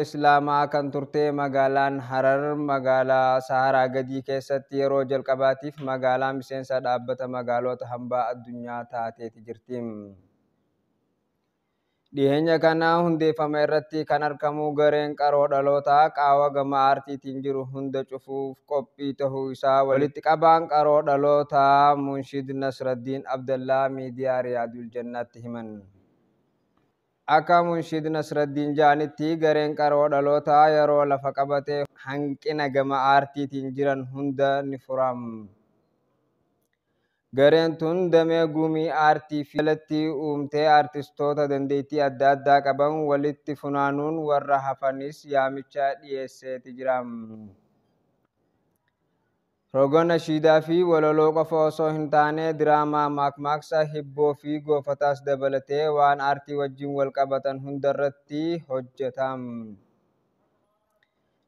Islaamaa kan turte magaalaan Harar magaalaa Saharaa gadii keessatti yeroo jalqabaatiif magaalaa miseensa dhaabbata magaalota hambaa addunyaa taateeti jirti. Dhiheenya kana hundeeffama irratti kan argamu gareen qaroo dhalootaa qaawa gama aartiitiin jiru hunda cufuuf qophii tahuu isaa walitti qabaan qaroo dhalootaa Munshid Nasraddiin Abdallaa miidiyaa Riyaadul Jannaatti himan. Akka Munshid Nasraddiin ja'anitti gareen qaroo dhalootaa yeroo lafa qabate hanqina gama aartiitiin jiran hunda ni furaam. Gareen tun damee gumii aartii fi jalatti uumtee aartistoota dandeettii adda addaa qaban walitti funaanuun warra hafanis yaamicha dhiyeesseeti jira. Roga nashiidaa fi walaloo qofa osoo hin taane diraamaa, maakmaaksa, hibboo fi goofataas dabalatee waan aartii wajjin wal qabatan hundarratti hojjeta.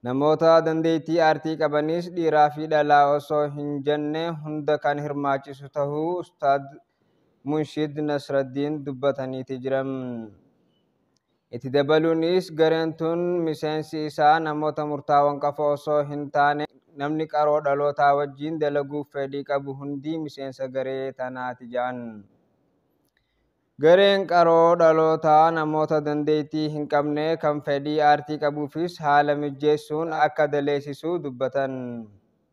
Namoota dandeettii aartii qabanis dhiiraa fi dhalaa osoo hin jenne hunda kan hirmaachisu tahuu Ustaaz Munshid Nasraddiin dubbataniiti jiran. Itti dabaluunis gareen tun miseensi isaa namoota murtaawan qafa osoo hin taane namni qaroo dhalootaa wajjiin dalaguuf feedhii qabu hundi miseensa garee tanaati ja'an. Gareen qaroo dhalootaa namoota dandeettii hin qabne kan fedhii aartii qabuufis haala mijjeessuun akka daleessisu dubbatan.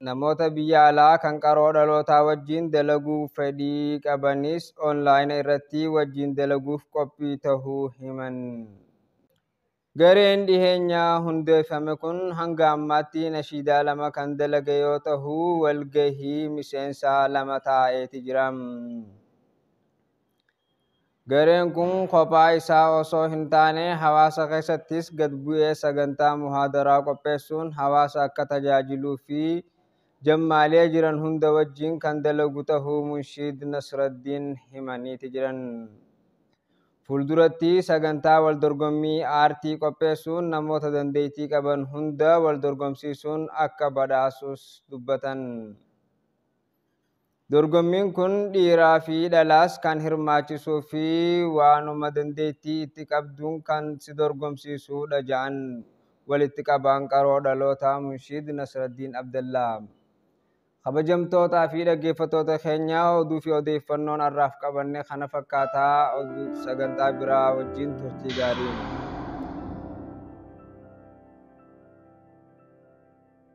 Namoota biyya alaa kan qaroo dhalootaa wajjin dalaguuf fedhii qabanis onlaayina irratti wajjin dalaguuf qophii tahuu himan. Gareen dhiheenya hundeeffame kun hanga ammaatti nashiidaa lama kan dalage yoo tahu walgahii miseensa lama taa'eeti jira. Gareen kun kophaa isaa osoo hin taane hawaasa keessattis gad bu'ee sagantaa muhaadaraa qopheessuun hawaasa akka tajaajiluu fi jammaalee jiran hunda wajjin kan dalagu tahuu Munshiid Nasraddiin himaniiti jiran. Fuulduratti sagantaa waldorgommii aartii qopheessuun namoota dandeettii qaban hunda waldorgomsiisuun akka badhaasus dubbatan. Dorgommiin kun dhiiraa fi dhalaas kan hirmaachisuu fi waanuma dandeettii itti qabduun kan si dorgomsiisuudha ja'an walitti qabaan qaroo dhalootaa Munshiid Nasraddiin Abdallaa. Kabajamtootaa fi dhaggeeffattoota keenya oduu fi odeeffannoon har'aaf qabanne kana fakkaata oduu sagantaa biraa wajjin turtii gaarii.